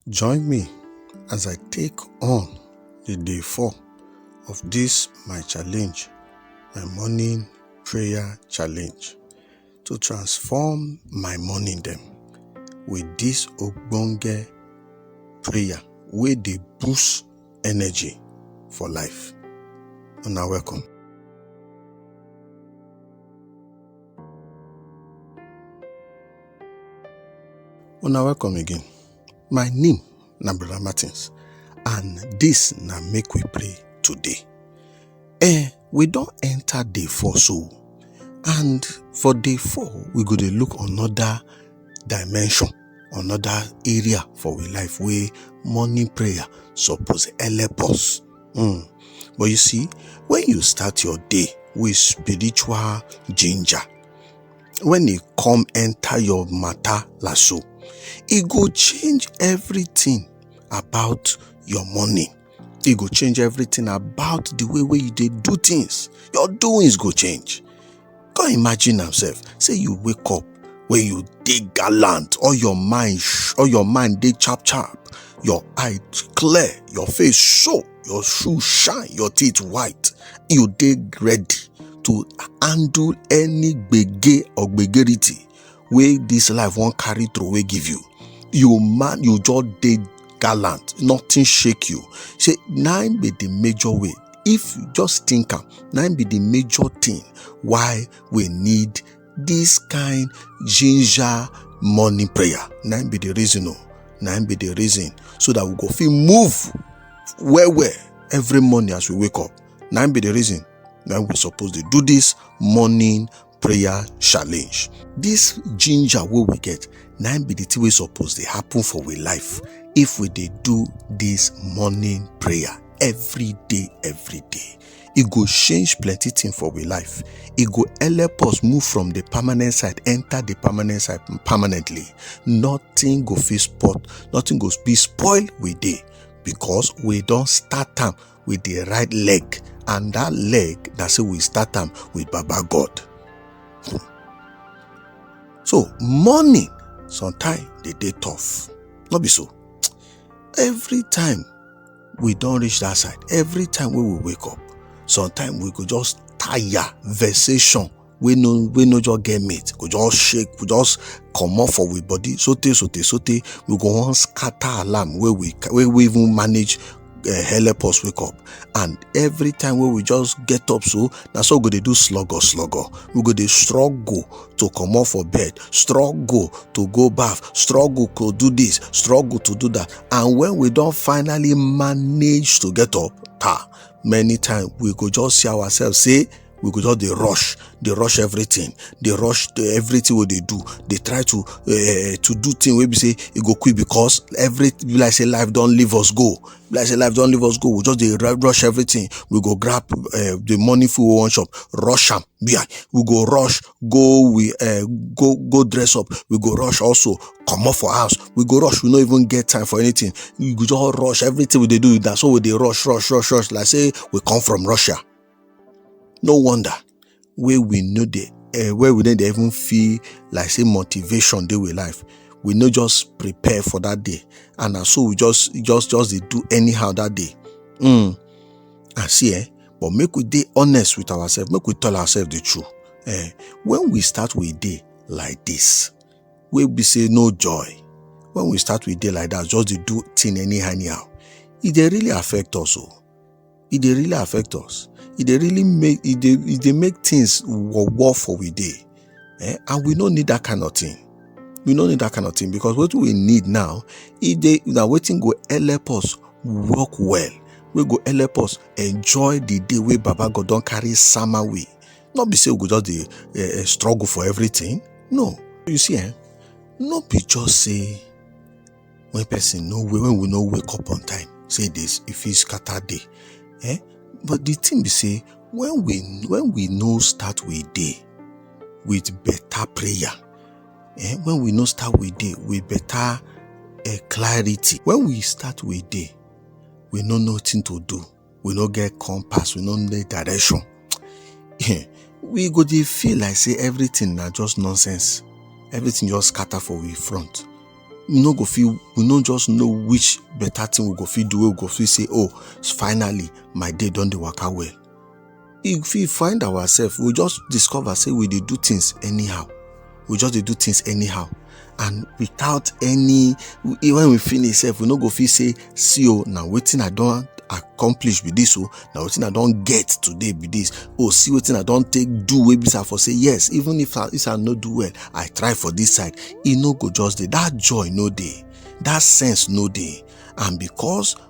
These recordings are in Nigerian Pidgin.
Join me as I take on the day four of this my challenge, my morning prayer challenge to transform my morning them with this ogbonge prayer where they boost energy for life. And now welcome. Una welcome again. My name na Brother Martins and this na make we pray today. Eh, we don enter day four so and for day four we go dey look another dimension, another area for we life wey morning prayer suppose help us. Mm. But you see, when you start your day with spiritual ginger, when e come enter your matter lasso, e go change everything about your morning. E go change everything about the way wey you dey do things. Your doings go change. Come imagine am sef say you wake up wey you dey gallant, all your mind all your mind dey chap chap, your eye clear, your face show, your shoe shine, your teeth white, you dey ready to handle any gbege or gbegerity wey this life wan carry throway give you you man you just dey gallant nothing shake you say na im be the major way if you just think am na im be the major thing why we need this kind ginger morning prayer na im be the reason o na im be the reason so that we go fit move well well every morning as we wake up na im be the reason na we suppose dey do this morning prayer challenge. This ginger wey we get na be the thing wey suppose dey happen for we life if we dey do this morning prayer every day every day e go change plenty thing for we life e go help us move from the permanent side enter the permanent side permanently nothing go fit spot nothing go be spoil we dey because we don start am with the right leg and that leg na say we start am with baba god hmm. so morning sometimes dey dey tough no be so every time we don reach that side every time wey we wake up sometimes we go just tire vexation wey no wey no just get mate go just shake go just comot for we body sotey sotey sotey we go wan scatter alarm wey we wey we even manage eh, help us wake up and every time wey we just get up so na so we go dey do slugger slugger we go dey struggle to comot for bed struggle to go baff struggle to do this struggle to do that and when we don finally manage to get up ta many times we go just see ourselves say we go just dey rush dey rush everything dey rush to everything wey dey do dey try to uh, to do thing wey be say e go quick because every be like say life don leave us go be like say life don leave us go we just dey rush everything we go grab uh, the money food we wan chop rush am yeah. we go rush go we uh, go go dress up we go rush also comot for house we go rush we no even get time for anything we go just rush everything we dey do na so we dey rush rush rush rush like say we come from russia no wonder wey we no dey uh, wey we no dey even feel like say motivation dey with life we no just prepare for that day and na so we just just just dey do anyhow that day mm. and see eh but make we dey honest with ourselves make we tell ourselves the truth eh when we start with day like this wey be say no joy when we start with day like that just dey do thing anyhow anyhow e dey really affect us o. Oh. e dey really affect us e dey really make e dey e dey make things war war for we dey eh? and we no need that kind of thing we no need that kind of thing because what we need now e dey na wetin go help us work well wey go help us enjoy the day wey baba god don carry sama we no be say we go just dey eh, eh, struggle for everything no you see eh no be just say when person no wake when we no wake up on time say e dey e fit scatter day eh but the thing be say when we when we no start we day with better prayer eh when we no start we day with better eh, clarity when we start we day we no know wetin to do we no get compass we no get direction we go dey feel like say everything na just nonsense everything just scatter for we front we no go feel we no just know which better thing we go fit do we go feel say oh finally my day don dey waka well you fit find ourselves we just discover say we dey do things anyhow we just dey do things anyhow and without any when we finish sef we no go fit say see o na wetin i don accomplish be this o oh, na wetin i don get today be this o oh, see wetin i don take do wey be say i for say yes even if i if i no do well i try for this side e no go just dey that joy no dey that sense no dey and because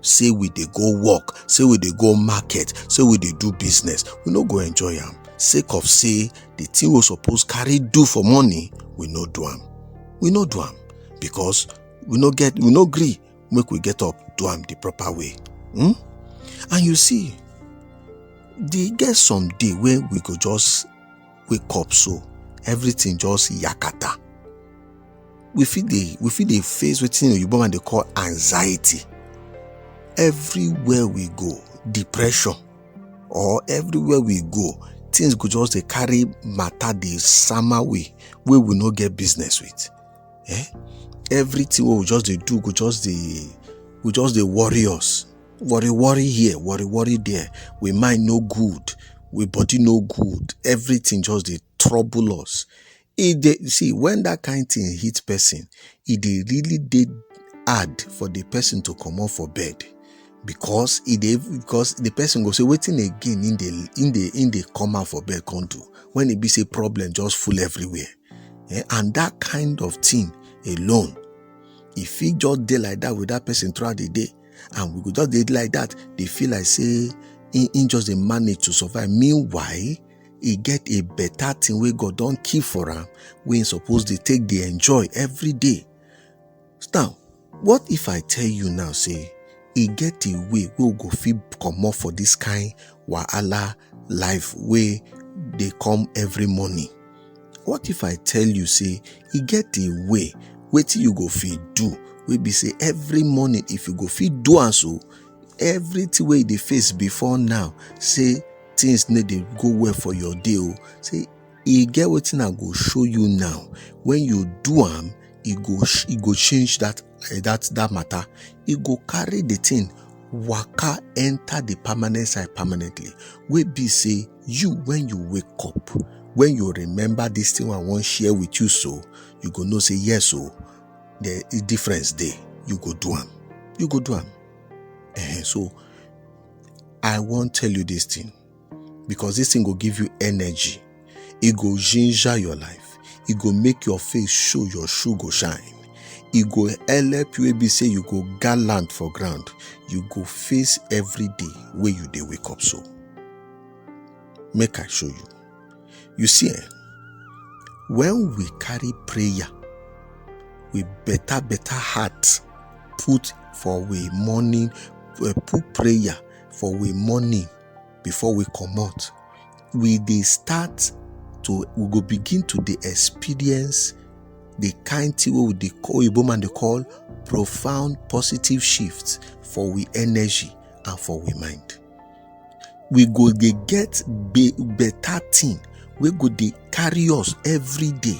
say we dey go work say we dey go market say we dey do business we no go enjoy am sake of say the thing we suppose carry do for money we no do am we no do am because we no get we no gree make we get up do am the proper way hmm? and you see the get some day wey we go just wake up so everything just yakata we fit dey we fit dey face wetin oyibo man dey call anxiety everywhere we go depression or everywhere we go things go just dey carry matter dey sama way wey we no get business with eh everything wey we just dey do go just dey go just dey worry us Worry worry here, worry worry there, we mind no good, we body no good, everything just dey trouble us. E dey see when that kind thing hit person, e dey really dey hard for the person to comot for bed because e dey because the person go say wetin again im dey im dey im dey come out for bed come do when e be say problem just full everywhere eh, and that kind of thing alone e fit just dey like that with that person throughout the day and we go just dey like that dey feel like say he, he just dey manage to survive meanwhile he get a better thing wey god don keep for am wey he suppose dey take dey enjoy every day now what if i tell you now say e get a way wey we go fit comot for this kind wahala life wey dey come every morning What if I tell you say e get a way wetin you go fit do wey be say every morning if you go fit do am so everything wey you dey face before now say things no dey go well for your day o say e get wetin I go show you now when you do am e go e go change that eh, that that matter e go carry the thing waka enter the permanent side permanently wey be say you when you wake up when you remember this thing i wan share with you so you go know say yes o oh, the difference dey you go do am you go do am eh, so i wan tell you this thing because this thing go give you energy e go ginger your life e go make your face show your shoe go shine e go help you wey be say you go gallant for ground you go face every day wey you dey wake up so make i show you you see eh when we carry prayer with better better heart put for we morning eh, put prayer for we morning before we comot we dey start to we go begin to dey experience the kind thing wey we dey call oyibo man dey call profound positive shift for we energy and for we mind we go dey get be better thing wey go dey carry us every day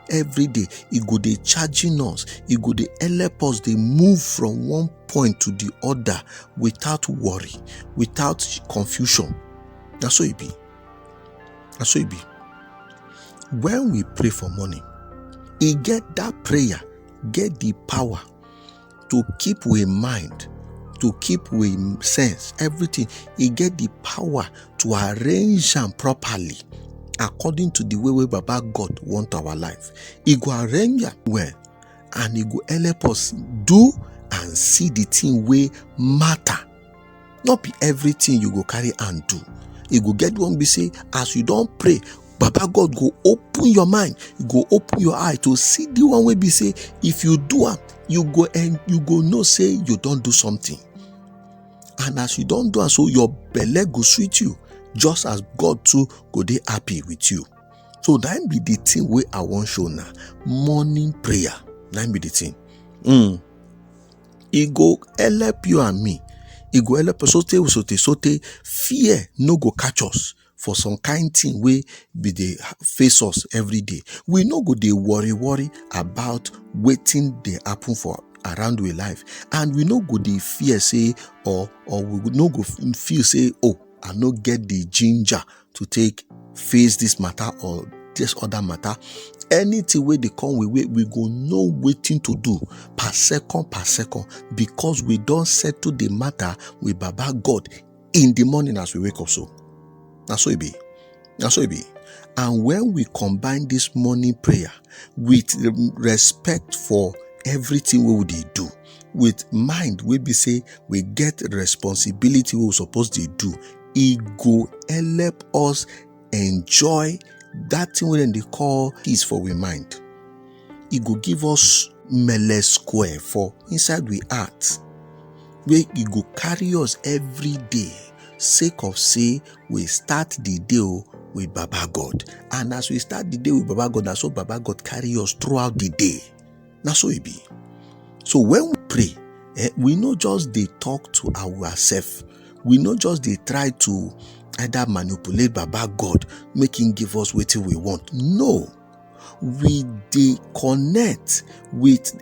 every day e go dey charging us e go dey help us dey move from one point to the other without worry without confusion na so e be na so e be when we pray for morning e get that prayer get the power to keep we mind to keep we sense everything e get the power to arrange am properly according to the way wey baba god want our life e go arrange am well and e go help us do and see the thing wey matter no be everything you go carry and do e go get one be say as you don pray baba god go open your mind you go open your eye to see the one wey be say if you do am you go and you go know say you don do something and as you don do am so your belle go sweet you just as god too go dey happy with you so that be the thing wey i wan show now morning prayer that be the thing mm. e go help you and me e go help us so tey so tey so tey fear no go catch us for some kind thing wey be dey face us everyday we no go dey worry worry about wetin dey happen for around we life and we no go dey fear say or or we no go feel say oh i no get the ginger to take face this matter or this other matter anything wey dey come we way we go know wetin to do per second per second because we don settle the matter with baba god in the morning as we wake up so na so e be na so e be and when we combine this morning prayer with respect for everything wey we dey do with mind wey be say we get responsibility wey we suppose dey do e go help us enjoy that thing wey dem dey call peace for we mind e go give us mele square for inside we heart wey e go carry us every day sake of say we start the day o with baba god and as we start the day with baba god na so baba god carry us throughout the day na so e be so when we pray eh, we no just dey talk to ourselves we no just dey try to either manipulate baba god make him give us wetin we want no we dey connect with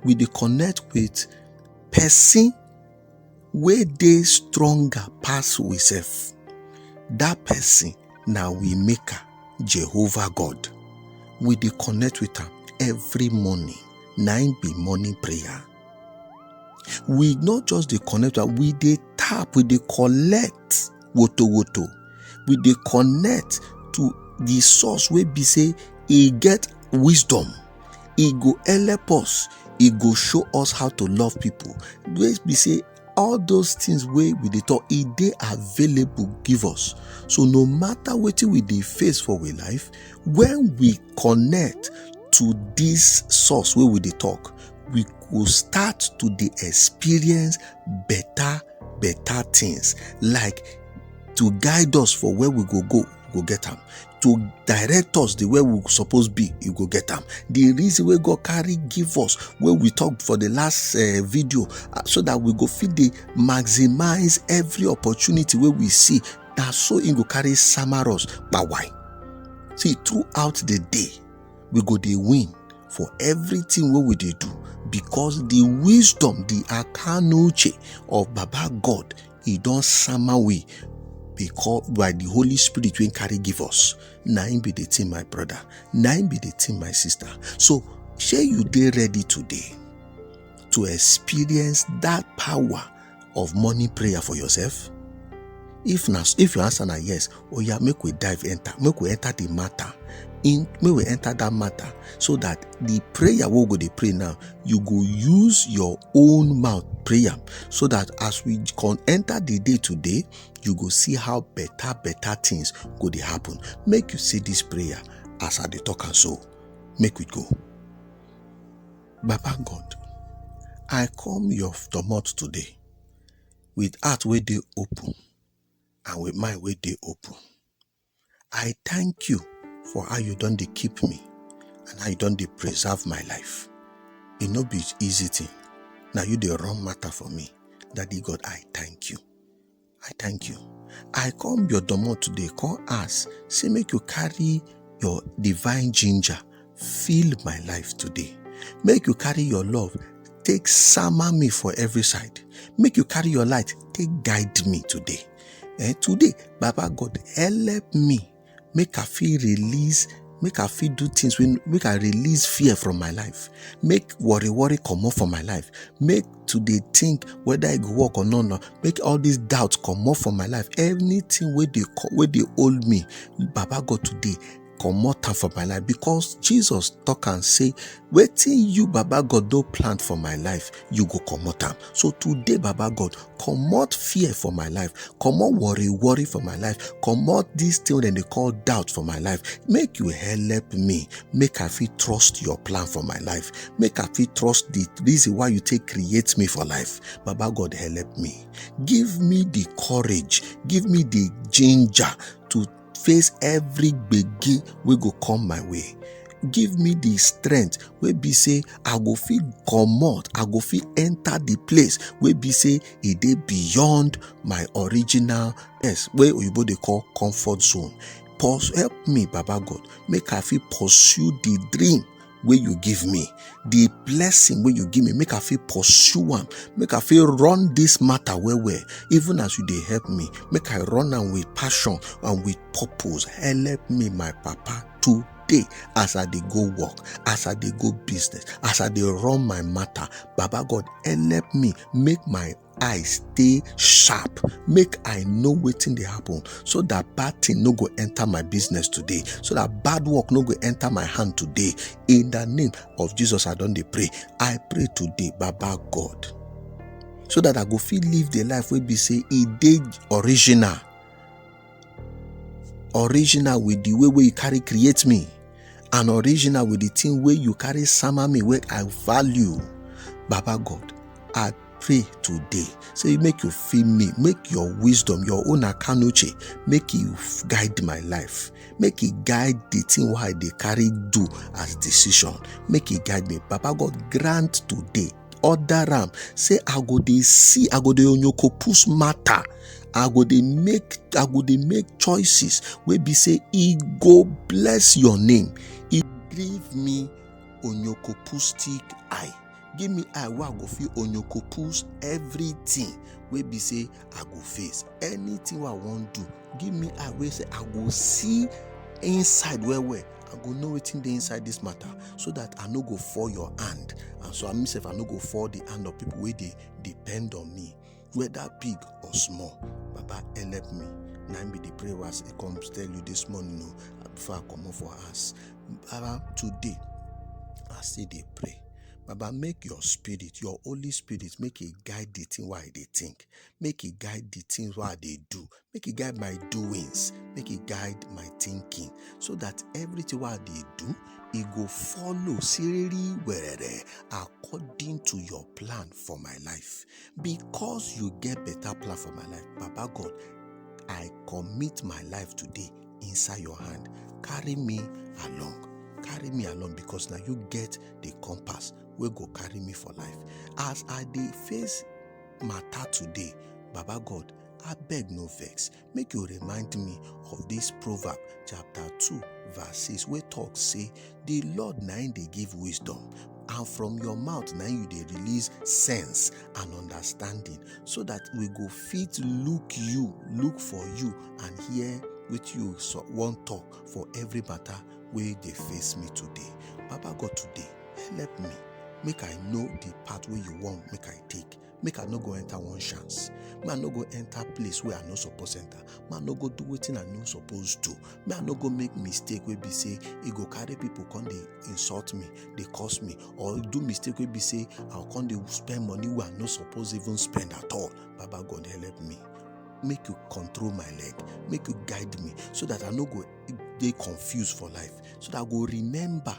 we dey connect with person wey dey stronger pass we sef that person na we maker jehovah god we dey connect with am every morning na im be morning prayer we no just dey connect we dey tap we dey collect woto woto we dey connect to the source wey be say e get wisdom e go help us e go show us how to love people wey be say all those things wey we dey talk e dey available give us so no matter wetin we dey face for we life when we connect to this source wey we dey talk we go start to dey experience better better things like to guide us for where we go go go get am to direct us the way we suppose be you go get am the reason wey god carry give us wey we talk for the last uh, video uh, so that we go fit dey maximize every opportunity wey we see na so e go carry sama us kpawai see throughout the day we go dey win for everything wey we dey do because the wisdom the akanuche of baba god e don sama we because by the holy spirit wey carry give us na im be the thing my brother na im be the thing my sister so shey you dey ready today to experience that power of morning prayer for yourself? If na if your answer na yes, oh yeah, make we dive enter, make we enter the matter. In make we enter that matter so that the prayer we go dey pray now, you go use your own mouth prayer so that as we can enter the day today, you go see how better better things go dey happen. Make you say this prayer as I dey talk and so. Make we go. Baba God, I come your domot today with heart wey dey open and with mind wey dey open. I thank you for how you don dey keep me and how you don dey preserve my life. E no be easy thing, na you dey run matter for me. Daddy God, I thank you. i thank you i come your domo today come ask say make you carry your divine ginger fill my life today make you carry your love take summer me for every side make you carry your light take guide me today eh today baba god help me make i fit release make i fit do things wey make i release fear from my life make worry worry comot from my life make to dey think whether e go work or not not make all this doubt comot from my life anything wey dey co- wey dey hold me baba god today comot am from my life because jesus talk am say wetin you baba god don plant for my life you go comot am so today baba god comot fear for my life comot worry worry for my life comot this thing wey dem dey call doubt for my life make you help me make i fit trust your plan for my life make i fit trust the reason why you take create me for life baba god help me give me the courage give me the ginger to face every gbege wey go come my way give me the strength wey be say i go fit comot i go fit enter the place wey be say e dey beyond my original yes wey oyibo dey call comfort zone Purs- help me baba god make i fit pursue the dream wey you give me the blessing wey you give me make i fit pursue am make i fit run this matter well well even as you dey help me make i run am with passion and with purpose help me my papa to day as i dey go work as i dey go business as i dey run my matter baba god help me make my I stay sharp make i know wetin dey happen so that bad thing no go enter my business today so that bad work no go enter my hand today in the name of jesus i don dey pray i pray today baba god so that i go fit live the life wey be say e dey original original with the way wey you carry create me and original with the thing wey you carry sama me wey i value baba god i pray today say make you feel me make your wisdom your own akanuche make you guide my life make e guide the thing wey i dey carry do as decision make e guide me baba god grant today order am say i go dey see i go dey onyokopus matter i go dey make i go dey make choices wey be say e go bless your name e give me onyokopustic eye give me eye wey i go fit onyokopus everything wey be say i go face anything wey i wan do give me eye wey say i go see inside well well i go know wetin dey inside this matter so that i no go fall your hand and so i mean sef i no go fall the hand of people wey dey depend on me whether big or small baba help me na im be the prayer wey i say come tell you this morning o before i comot for house baba today i still dey pray baba make your spirit your holy spirit make e guide the thing wey i dey think make e guide the things wey i dey do make e guide my doings make e guide my thinking so that everything wey i dey do e go follow siriri werere according to your plan for my life because you get better plan for my life baba god i commit my life today inside your hand carry me along carry me along because na you get the compass wey go carry me for life as i dey face matter today baba god abeg no vex make you remind me of this proverb chapter 2 verse 6 wey talk say the lord na him dey give wisdom and from your mouth na you dey release sense and understanding so that we go fit look you look for you and hear wetin you so- wan talk for every matter wey dey face me today baba god today help me make i know the path wey you want make i take make i no go enter one chance make i no go enter place wey i no suppose enter make i no go do wetin i no suppose do make i no go make mistake wey be say e go carry people come dey insult me dey curse me or do mistake wey be say i go come dey spend money wey i no suppose even spend at all baba god help me make you control my leg make you guide me so that i no go dey confused for life so that i go remember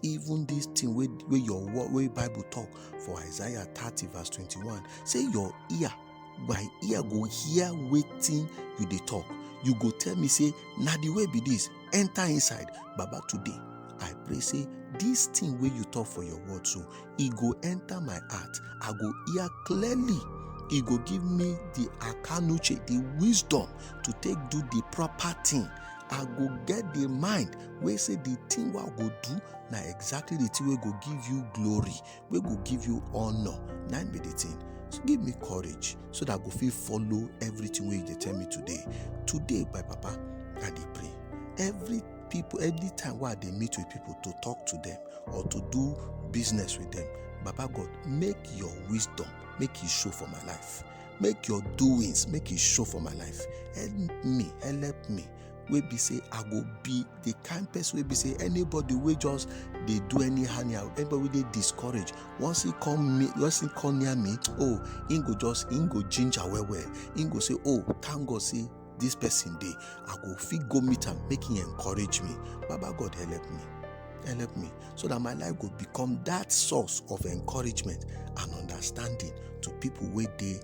even this thing wey wey your word wey bible talk for isaiah thirty verse twenty-one say your ear my ear go hear wetin you dey talk you go tell me say na the way be this enter inside baba today i pray say this thing wey you talk for your word so e go enter my heart i go hear clearly e go give me the akanuche the wisdom to take do the proper thing i go get the mind wey say the thing wey i go do na exactly the thing wey go give you glory wey go give you honour na im be the thing so give me courage so that i go fit follow everything wey you dey tell me today today my papa i dey pray every people anytime wey i dey meet with people to talk to them or to do business with them baba god make your wisdom make e show for my life make your doings make e show for my life help me help me wey be say i go be the kind person wey be say anybody wey just dey do any anyhow anybody wey dey discourage once he come me once he come near me oh he go just he go ginger well well he go say oh thank god say this person dey i go fit go meet am make him encourage me baba god help me help me so that my life go become that source of encouragement and understanding to people wey dey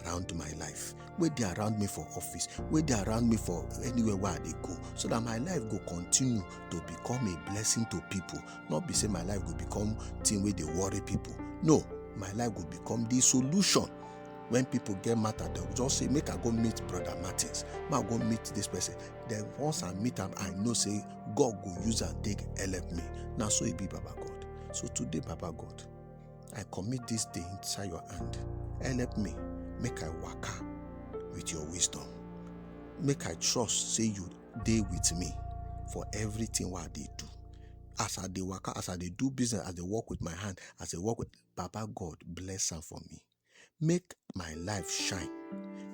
around my life wey dey around me for office wey dey around me for anywhere wey i dey go so that my life go continue to become a blessing to people not be say my life go become thing wey dey worry people no my life go become the solution when people get matter dem go just say make i go meet brother martins make i go meet this person then once i meet am i know say god go use am take help me na so e be baba god so today baba god i commit this day inside your hand help me make i waka with your wisdom make i trust say you dey with me for everything wey i dey do as i dey waka as i dey do business as i dey work with my hand as i work with baba god bless am for me Make my life shine.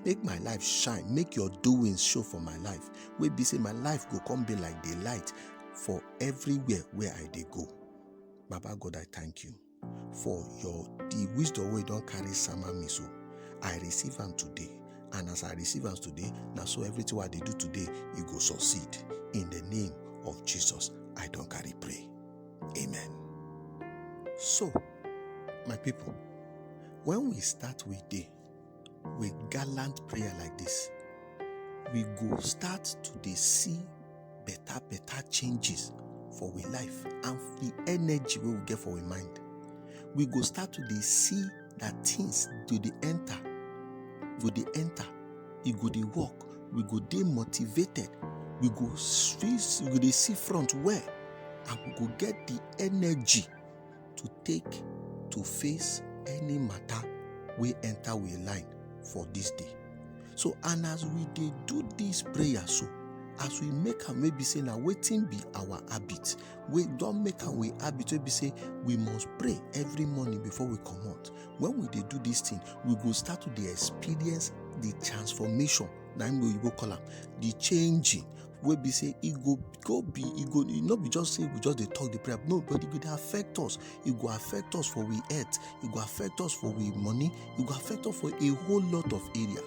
Make my life shine. Make your doings show for my life. Wey be say my life go come be like the light for everywhere where I dey go. Baba God, I thank you for your the wisdom wey you don carry sama me so. I receive am today. And as I receive am today, na so everything wey I dey do today, e go succeed. In the name of Jesus, I don carry pray. Amen. So, my people, when we start with day with gallant prayer like this, we go start to dey see better better changes for we life and the energy wey we get for we mind. We go start to dey see that things go dey enter go dey enter e go dey work we go dey motivated we go see we go dey see front well and we go get the energy to take to face any matter wey enter we line for this day so and as we dey do this prayer so as we make am wey be say na wetin be our habit we don make am we habit wey be say we must pray every morning before we comot when we dey do this thing we go start to dey experience the transformation na im oyibo call am the changing wey be say e go go be e go e no be just say we just dey talk the prayer no but e go dey affect us e go affect us for we health e go affect us for we money e go affect us for a whole lot of area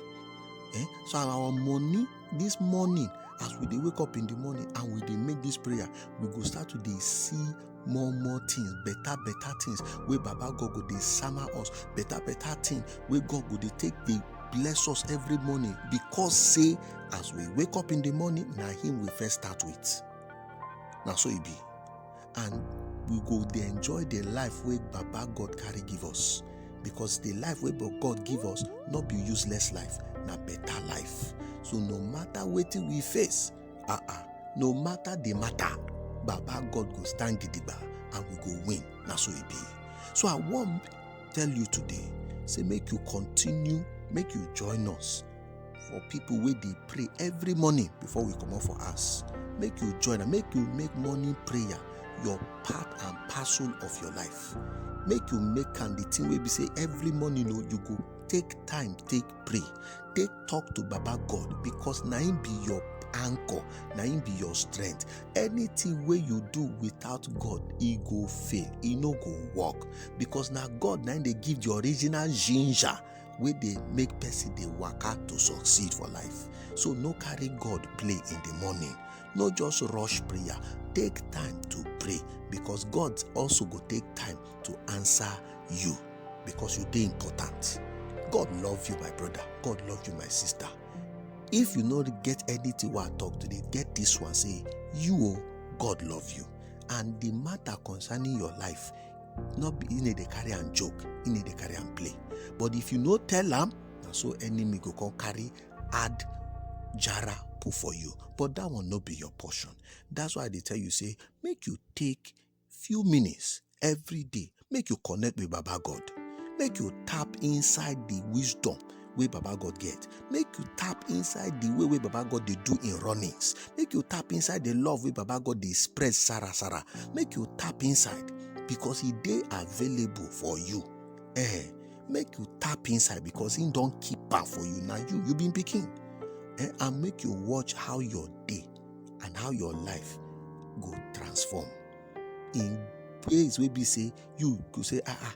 eh so our money This morning, as we dey wake up in the morning and we dey make this prayer, we go start to dey see more more things, better better things wey Baba God go dey sama us, better better thing wey God go dey take dey bless us every morning because say as we wake up in the morning, na him we first start with. Na so e be. and we go dey enjoy the life wey baba god carry give us because the life wey Ba- god give us no be useless life na better life so no matter wetin we face ah ah no matter the matter baba god go stand gidigba and we go win na so e be so i wan tell you today say make you continue make you join us for people wey dey pray every morning before we comot for house make you join am make you make morning prayer your part and parcel of your life make you make am the thing wey be say every morning o you go take time take pray take talk to baba god because na him be your anchor na him be your strength anything wey you do without god e go fail e no go work because na god na him dey give the original ginger wey dey make person dey waka to succeed for life so no carry god play in the morning no just rush prayer take time to pray because god also go take time to answer you because you dey important god love you my brother god love you my sister if you no get anything wey i talk today get this one say you o god love you and the matter concerning your life no be e dey carry am joke e dey carry am play but if you no tell am na so enemy go come carry add jara put for you but that one no be your portion that's why i dey tell you say make you take few minutes every day make you connect with baba god make you tap inside the wisdom wey baba god get make you tap inside the way wey baba god dey do im runnings make you tap inside the love wey baba god dey spread sara sara make you tap inside because e dey available for you eh make you tap inside because im don keep am for you na you you be im pikin eh and make you watch how your day and how your life go transform in ways wey be say you go say ah ah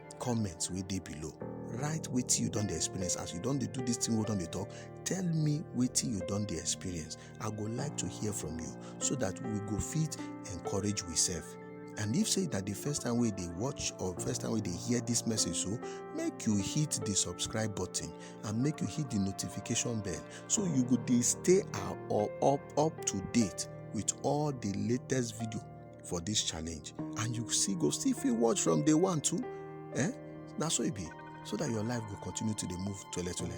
comment wey dey below write wetin you don dey experience as you don dey do this thing wey don dey talk tell me wetin you don dey experience i go like to hear from you so that we go fit encourage we sef and if say na the first time wey dey watch or first time wey dey hear this message so make you hit the subscribe button and make you hit the notification bell so you go dey stay uh, or up up to date with all the latest video for this challenge and you see go still fit watch from day one too eh na so e be so that your life go continue to dey move tole tole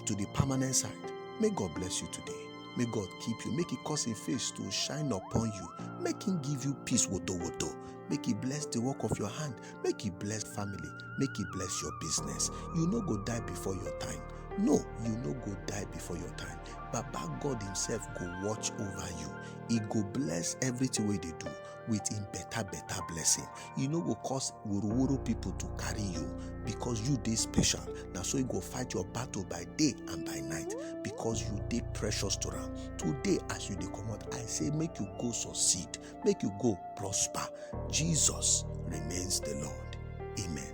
to the permanent side may god bless you today may god keep you make e cause him face to shine upon you make him give you peace woto woto make e bless the work of your hand make e bless family make e bless your business you no go die before your time no you no go die before your time baba god himself go watch over you e go bless everything wey dey do with im better better blessing e no go cause woroworo people to carry you because you dey special na so e go fight your battle by day and by night because you dey precious to am today as you dey comot i say make you go succeed make you go prosper jesus remains the lord amen.